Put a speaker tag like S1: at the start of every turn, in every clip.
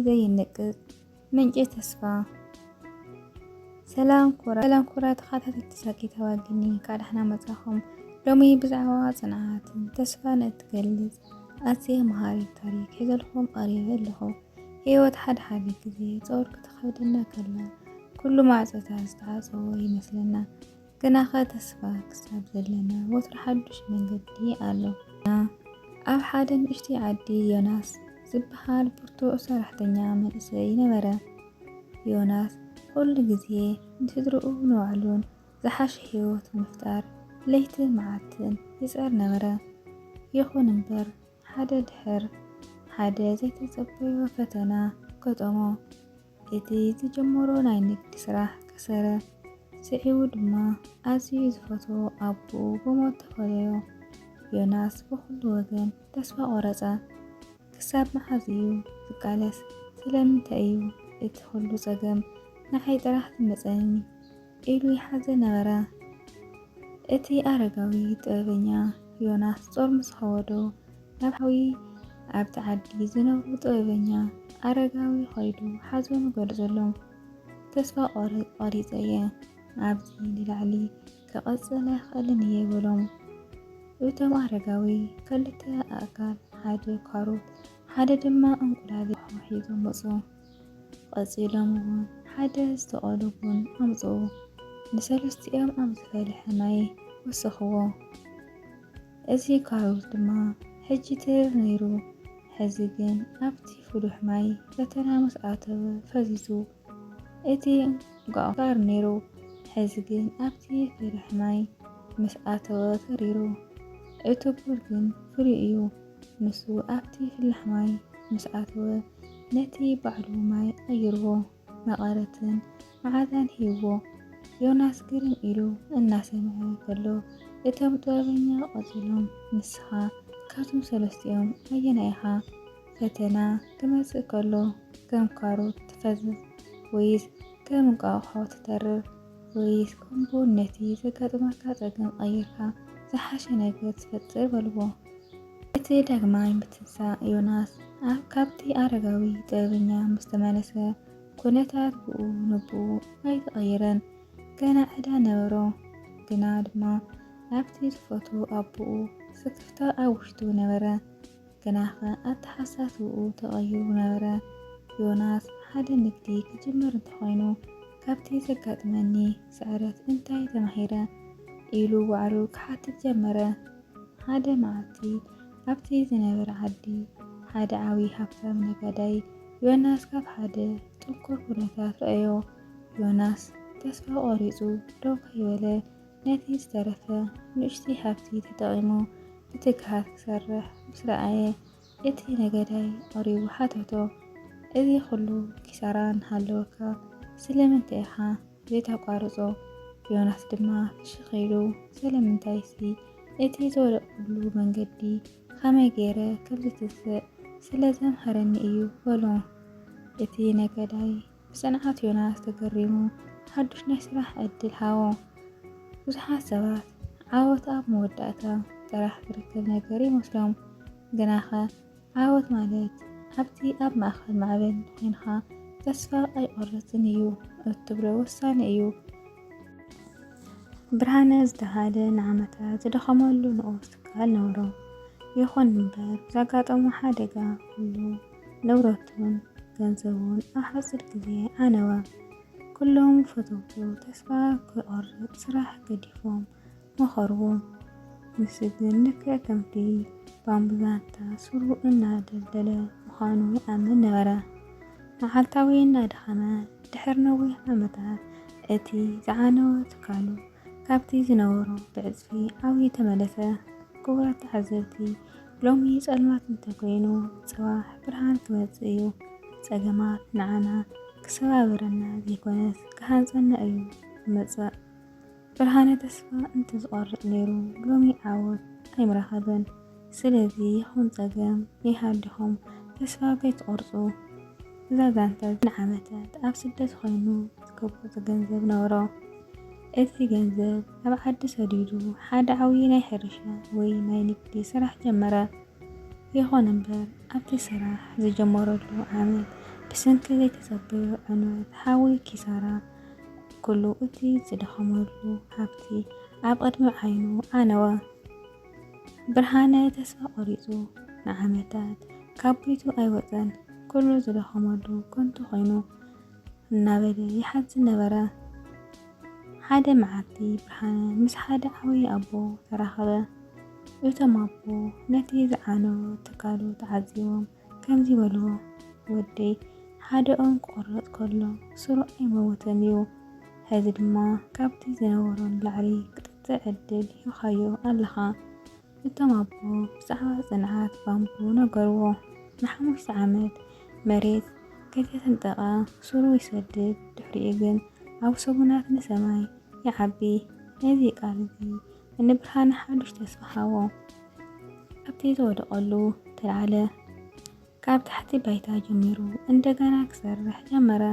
S1: ዘይንቅጥ ምንጭ ተስፋ ሰላም ኩራ ሰላም ኩራ ተኸታተልቲ ሳቂ ተዋግኒ ካዳሕና መጻኹም ሎሚ ብዛዕባ ጽንዓትን ተስፋን እትገልጽ ኣዝየ መሃሪት ታሪክ ሒዘልኩም ቀሪበ ኣለኹ። ህይወት ሓደ ሓደ ግዜ ጾር ክትኸብደና ከላ ኩሉ ማዕጾታት ዝተዓጸዎ ይመስለና። ግናኸ ተስፋ ክሳብ ዘለና ወትሩ ሓዱሽ መንገዲ ኣሎ። ኣብ ሓደ ንእሽተይ ዓዲ ዮናስ ዝበሃል ብርቱዕ ሰራሕተኛ መንእሰይ ነበረ። ዮናስ ኩሉ ግዜ ንስድርኡ ንባዕሉን ዝሓሸ ህይወት ንምፍጣር ለይትን መዓልትን ይጽዕር ነበረ። ይኹን እምበር ሓደ ድሕር ሓደ ዘይተጸበዮ ፈተና ገጠሞ። እቲ ዝጀመሮ ናይ ንግዲ ስራሕ ከሰረ። ስዒቡ ድማ ኣዝዩ ዝፈትዎ ኣቦኡ ብሞት ተፈለዮ። ዮናስ ብኹሉ ወገን ተስፋ ቆረጸ። ክሳብ መዓዝ እዩ ዝቃለስ ስለምንታይ እዩ እቲ ኩሉ ጸገም ንዓይ ጥራሕ ዝመጸኒ ኢሉ ይሓዘ ነበረ። እቲ ኣረጋዊ ጥበበኛ ዮናስ ጾር ምስ ኸወዶ ናብ ሓዊ ኣብቲ ዓዲ ዝነብሩ ጥበበኛ ኣረጋዊ ኸይዱ ሓዘኑ ገልጸሎም። ተስፋ ቆሪጸ እየ ኣብዚ ንላዕሊ ክቕጽል ኣይክእልን እየ በሎም። እቶም ኣረጋዊ ክልተ ኣእካል፣ ሓደ ካሮት፣ ሓደ ድማ እንቁላሊሕ ሒዞም መጹ። ቐጺሎም እውን ሓደ ዝተቐሉ ቡን ኣምጽኡ። ንሰለስቲኦም ኣብ ዝፈልሐ ማይ ወሰኽዎ። እዚ ካሮት ድማ ሕጂ ትርር ነይሩ፣ ሕዚ ግን ኣብቲ ፍሉሕ ማይ ፈተና ምስ ኣተወ ፈዚዙ። እቲ እንቋቑሖ ባር ነይሩ፣ ሕዚ ግን ኣብቲ ፍርሒ ማይ ምስ ኣተወ ተሪሩ። እቲ ቡር ግን ፍሉይ እዩ፣ ንሱ ኣብቲ ፍላሕ ማይ ምስ ኣተወ ነቲ ባዕሉ ማይ ቐይርዎ፣ መቐረትን መዓዛን ሂብዎ። ዮናስ ግርም ኢሉ እናሰምዐ ከሎ እቶም ጥበበኛ ቐጺሎም ንስኻ ካብቶም ሰለስቲኦም ኣየናይ ኢኻ? ፈተና ክመጽእ ከሎ ከም ካሮት ትፈዝዝ ወይስ ከም እንቋቑሖ ትተርር? ወይስ ከምቡን ነቲ ዘጋጥመካ ጸገም ቐይርካ ዝሓሸ ነገር ትፈጥር በልዎ። እቲ ዳግማይ ምትንሳእ ዮናስ ኣብ ካብቲ ኣረጋዊ ጥበበኛ ምስ ተመለሰ ኩነታት ብኡ ንብኡ ኣይተቐየረን። ገና ዕዳ ነበሮ። ግና ድማ ናብቲ ዝፈትዎ ኣቦኡ ስክፍታ ኣብ ውሽጡ ነበረ። ግናኸ ኣተሓሳስባኡ ተቐይሩ ነበረ። ዮናስ፣ ሓደ ንግዲ ክጅምር እንተኾይኑ ካብቲ ዘጋጥመኒ ስዕረት እንታይ ተማሂረ? ኢሉ ባዕሉ ክሓትት ጀመረ። ሓደ መዓልቲ ኣብቲ ዝነበረ ዓዲ ሓደ ዓብዪ ሃብታም ነጋዳይ ዮናስ ካብ ሓደ ጥንኩር ኩነታት ረኣዮ። ዮናስ ተስፋ ቆሪፁ ደው ከይበለ ነቲ ዝተረፈ ንኡሽተይ ሃብቲ ተጠቒሙ ብትግሃት ክሰርሕ ምስ ረኣየ፣ እቲ ነገዳይ ቐሪቡ ሓተቶ፣ እዚ ኹሉ ኪሳራ እናሃለወካ ስለምንታይ ኢኻ ዘይተቋርጾ? ዮናስ ድማ ፍሽኽ ኢሉ፣ ሰለምንታይሲ፣ እቲ ዝወደቕኩሉ መንገዲ ኸመይ ገይረ ከም ዝትንስእ ስለ ዘምሀረኒ እዩ በሎ። እቲ ነገዳይ ብጽንዓት ዮናስ ተገሪሙ ሓዱሽ ናይ ስራሕ ዕድል ሃቦ። ብዙሓት ሰባት ዓወት ኣብ መወዳእታ ጥራሕ ዝርከብ ነገር ይመስሎም፣ ግናኸ ዓወት ማለት ኣብቲ ኣብ ማእከል ማዕበል ዄንካ ተስፋ ኣይቆርጽን እዩ እትብሎ ወሳኒ እዩ። ብርሃነ ዝተባህለ ንዓመታት ዝደኸመሉ ንኡስ ትካል ነበሮ። ይኹን እምበር ብዘጋጠሞ ሓደጋ ኩሉ ንብረቱን ገንዘቡን ኣብ ሓፂር ግዜ ዓነወ። ኩሎም ፈተውቱ ተስፋ ክቖርፅ ስራሕ ገዲፎም መኸርዎ። ንሱ ግን ልክዕ ከምቲ ባምቡላታ ሱሩ እናደልደለ ምዃኑ ይኣምን ነበረ። መዓልታዊ እናደኸመ ድሕሪ ነዊሕ ዓመታት እቲ ዝዓነወ ትካሉ ካብቲ ዝነበሮ ብዕጽፊ ዓውዩ ተመለሰ። ክቡራት ተዓዘብቲ፣ ሎሚ ጸልማት እንተኮይኑ ጽባሕ ብርሃን ክመጽእ እዩ። ጸገማት ንዓና ክሰባብረና ዘይኮነስ ክሃንጸና እዩ ዝመጽእ። ብርሃነ ተስፋ እንተዝቆርጽ ነይሩ ሎሚ ዓወት ኣይምረኸበን። ስለዚ ይኹን ጸገም ይሃልኹም ተስፋ ከይትቆርጹ። እዛ ዛንታ እዚኣ ንዓመታት ኣብ ስደት ኮይኑ ዝከቦጸ ገንዘብ ነበሮ። እቲ ገንዘብ ኣብ ዓዲ ሰዲዱ ሓደ ዓብዪ ናይ ሕርሻ ወይ ናይ ንግዲ ስራሕ ጀመረ። ይኹን እምበር ኣብቲ ስራሕ ዝጀመረሉ ዓመት ብሰንኪ ዘይተጸበዮ ዕንወት ሓዊ ኪሳራ ኩሉ እቲ ዝደኸመሉ ሃብቲ ኣብ ቅድሚ ዓይኑ ዓነወ። ብርሃነ ተስፋ ቆሪጹ ንዓመታት ካብ ቤቱ ኣይወጸን። ኩሉ ዝደኸመሉ ከንቱ ኮይኑ እናበለ ይሓዝን ነበረ። ሓደ መዓልቲ ብርሃነ ምስ ሓደ ዓብዪ ኣቦ ተራኸበ። እቶም ኣቦ ነቲ ዝዓነወ ትካሉ ተዓዚቦም ከምዚ በልዎ ወደይ ሓደ ኦም ክቁረጽ ከሎ ስሩ ኣይመውትን ዩ ሐዚ ድማ ካብቲ ዝነበሮ ንላዕሊ ክትጥዕ ዕድል ሂብካዮ ኣለኻ እቶም ኣቦ ብዛዕባ ጽንዓት ባምቡ ነገርዎ ንሓሙሽተ ዓመት መሬት ከይተሰንጠቀ ስሩ ይሰድድ ድሕሪኡ ግን ኣብ ሰሙናት ንሰማይ ይዓቢ ነዚ ቃል እዚ ንብርሃነ ሓዱሽ ተስፋ ሃቦ። ኣብቲ ዝወደቐሉ ተልዓለ። ካብ ታሕቲ ባይታ ጀሚሩ እንደገና ክሰርሕ ጀመረ።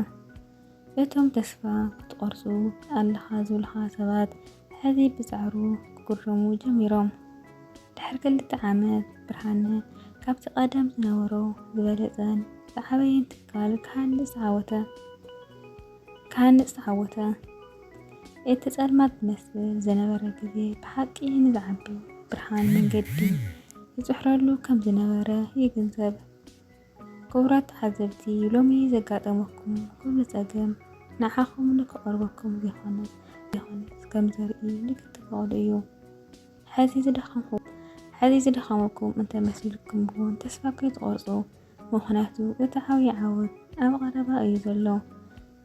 S1: እቶም ተስፋ ክትቆርጹ ኣለኻ ዝብልኻ ሰባት ሕዚ ብጻዕሩ ክግረሙ ጀሚሮም። ድሕሪ ክልተ ዓመት ብርሃነ ካብቲ ቀደም ዝነበሮ ዝበለጸን ዝዓበየን ትካል ክሃንጽ ዓወተ። ክሃንጽ ተዓወተ። እቲ ጸልማት ዝመስል ዝነበረ ግዜ ብሓቂ ንዝዓቢ ብርሃን መንገዲ ይጽሕረሉ ከም ዝነበረ ይግንዘብ። ክቡራት ተዓዘብቲ ሎሚ ዘጋጠመኩም ኩሉ ጸገም ንዓኹም ንክቐርበኩም ዘይኮነስ ዘይኮነስ ከም ዘርኢ ንክትፈቕዱ እዩ። ሕዚ ዝደኸምኹ ሕዚ ዝደኸመኩም እንተመሲልኩም እውን ተስፋ ከይትቖርጹ ምኽንያቱ እቲ ዓብዪ ዓወት ኣብ ቐረባ እዩ ዘሎ።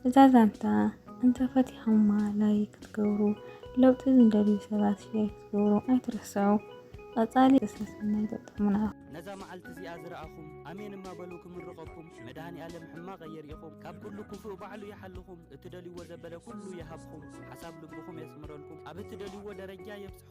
S1: እዛ ዛንታ እንተ ፈቲኹማ ላይክ ክትገብሩ ለውጢ ዝደልዩ ሰባት ሼር ክትገብሩ ኣይትርስዑ። ቐፃሊ ሰሰናይ ገጠሙና። ነዛ መዓልቲ
S2: እዚኣ ዝረኣኹም ኣሜን እማ በሉ ክምርቐኩም መድሃኒ ኣለም ሕማቕ ኣየርእኹም ካብ ኩሉ ክፉእ ባዕሉ ይሓልኹም እትደልይዎ ዘበለ ኩሉ ይሃብኹም ሓሳብ ልብኹም የስምረልኩም ኣብ እትደልይዎ ደረጃ የብፅሕኩም